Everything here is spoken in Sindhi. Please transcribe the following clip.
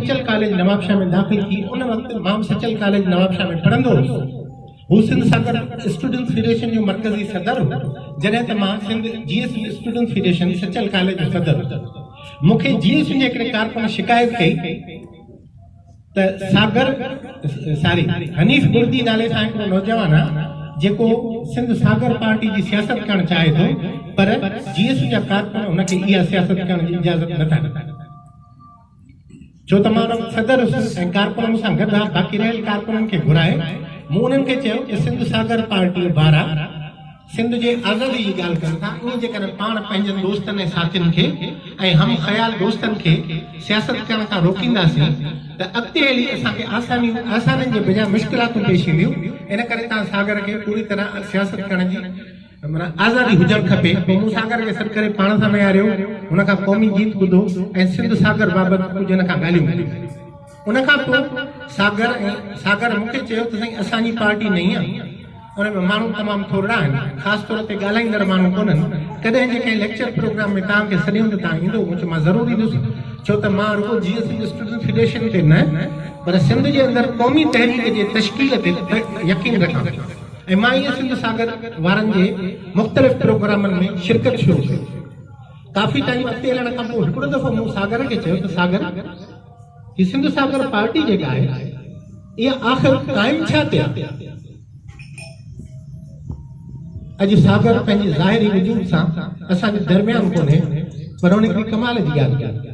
سچل ڪاليج نوابشاهه ۾ داخل ٿي ان وقت مان به سچل ڪاليج نوابشاهه ۾ پڙهندو هوس هو سنڌ ساگر اسٽوڊنٽس فيڊريشن جو مرڪزي صدر هو جڏهن ته مان Sindh J S U students federation Sachal college جو صدر هو مون کي جي ايس يو جي هڪڙي ڪارڪن شڪايت ڪئي ته ساگر ساري حنيف بردي نالي سان هڪڙو نوجوان آهي جيڪو سنڌ ساگر پارٽي جي سياست ڪرڻ چاهي ٿو پر جي ايس يو جا ڪارڪن هن کي اها سياست ڪرڻ جي اجازت نٿا ڏين ڇو ته مان صدر هيس ۽ ڪارڪن مون سان گڏ ها، باقي رهيل ڪارڪنن کي گهرائي مون انهن کي چيو ته سنڌ ساگر پارٽيء وارا سنڌ جي آزادي جي ڳالهه ڪن ٿا، ائين جيڪڏهن پاڻ پنهنجن دوستن ۽ ساٿين کي ۽ هم خيال دوستن کي سياست ڪرڻ کان روڪينداسين ته اڳتي هلي اسان کي آسانيون آسانين جي بجاء مشڪلاتون پيش اينديون، ان ڪري توهان ساگر کي پوري طرح سياست ڪرڻ جي معنيٰ آزادي هجڻ کپي. پوء مون ساگر کي سڏ ڪري پاڻ سان ويهاريو. هن کان قومي گيت ٻڌو ۽ سنڌ ساگر بابت ڪجهه هن کان ڳالهيون ٻڌيون. ان کان پوء ساگر ۽ ساگر مون کي چيو ته سائين اسان جي پارٽي نئين آهي. ان ۾ ماڻهو تمام ٿورڙا آهن. خاص طور تي ڳالهائيندڙ ماڻهو ڪونهن. ڪڏهن جي ڪنهن ليڪچر پروگرام ۾ توهان کي سڏيون ته توهان ايندو؟ مون چيو مان ضرور ايندس. ڇو ته مان رڳو جيئي سنڌ اسٽوڊنٽس فيڊريشن تي نه پر سنڌ جي اندر قومي تحريڪ جي تشڪيل تي يقين رکان ٿو. ايم آء اي سنڌ ساگر وارن جي مختلف پروگرامن ۾ شرڪت شروع ڪئي. ڪافي ٽائيم اڳتي هلڻ کان پوء هڪڙو دفعو مون ساگر کي چيو ته ساگر هي سنڌ ساگر پارٽي جيڪا آهي اها آخر قائم ڇا تي آهي؟ اڄ ساگر پنهنجي ظاهري وجود سان اسان جي درميان ڪونهي پر هن هڪڙي ڪمال جي ڳالهه ڪئي.